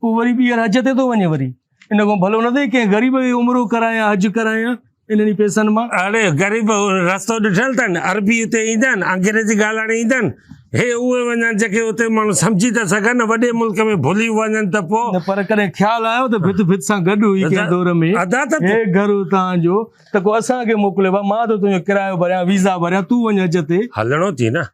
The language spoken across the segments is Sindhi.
پوء وري ٻيهر حج تي ٿو وڃي وري ان کان ڀلو نه ٿئي ڪنهن غريب کي عمرو ڪرايان حج ڪرايان انهن ئي پيسن مان اڙي غريب رستو ڏٺل اٿن عربي اتي ايندا آهن انگريزي ڳالهائڻ ايندا آهن هي اهي وڃن جيڪي اتي ماڻهو سمجهي ته سگهن نه وڏي ملڪ ۾ ڀلي وڃن ته پوء پر ڪڏهن خيال آيو ته ڀت ڀت سان گڏ هئي ڪنهن دور ۾ ادا ته هي گهر تان جو ته ڪو اسان کي موڪلي مان ته تنهنجو ڪرايو ڀريان ويزا ڀريان تون وڃ حج تي هلڻو ٿي نه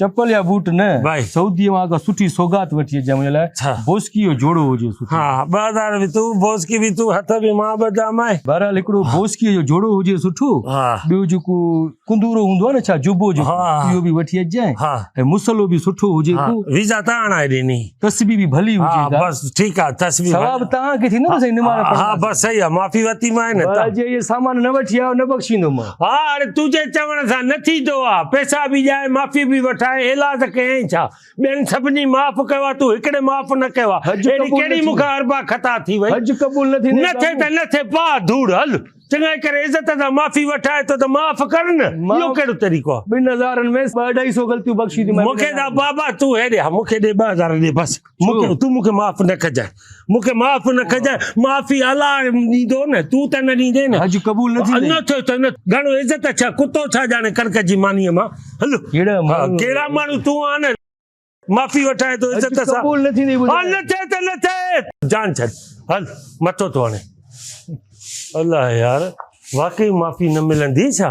چپل يا بوٽ نه سعودي مان ڪا سٺي سوغات وٺي اچجان منهنجي لاء بوسڪي جو جوڙو هجي سٺو ها 2000 به تون بوسڪي به تون هٿ به مان به جام آهي بهرحال هڪڙو بوسڪي جو جوڙو هجي سٺو ٻيو جيڪو ڪندورو هوندو آهي نه ڇا جبو جو اهو به وٺي اچجانء ۽ مصلو به سٺو هجي ڪو ويزا تان آڻائي ڏيني تسبيح به ڀلي هجي ها بس ٺيڪ آ تسبيح ثواب تان کي ٿيندو سائين نماز پڙهڻ ها بس صحيح آ معافي وتي ما نه ته جي هي سامان نه وٺي آيو نه بخشيندو ما ها اڙي تو جي چوڻ سان نه ٿي دو آ پيسا به ڏيائي معافي به وٺائي ايلاز ڪيائين ڇا ٻين سڀني معاف ڪيو آ تو هڪڙي معاف نه ڪيو آ اڙي ڪهڙي مون کان اربع خطا ٿي وئي حج قبول نه ٿي نه ٿي ته نه ٿي پا ڌوڙ هل چڱائي ڪري عزت سان معافي وٺائي ٿو ته معاف ڪر نه، اهو ڪهڙو طريقو آهي؟ ٻن هزارن ۾ ٻه اڍائي سو غلطيون بخشي ٿي. مون کي ڏا بابا تون هيڏي آ، مون کي ڏي ٻه هزار ڏي بس، مون کي تون مون کي معاف نه ڪجانء، مون کي معاف نه ڪجانء، معافي الله ڏيندو نه، تون ته نه ڏيندين نه. حج قبول نه ٿيندئي. نه ٿيو ته نه، گهڻو عزت ڇا، ڪتو ڇا ڄاڻي ڪڻڪ جي مانيء مان، هل، ها، ڪهڙا ماڻهو تون آن. معافي وٺائي تو عزت سان قبول نه ٿيندي ها نه ٿي ته نه ٿي جان ڇڏ هل مٿو ٿو هڻي الله يار واقعي معافي نه ملندي ڇا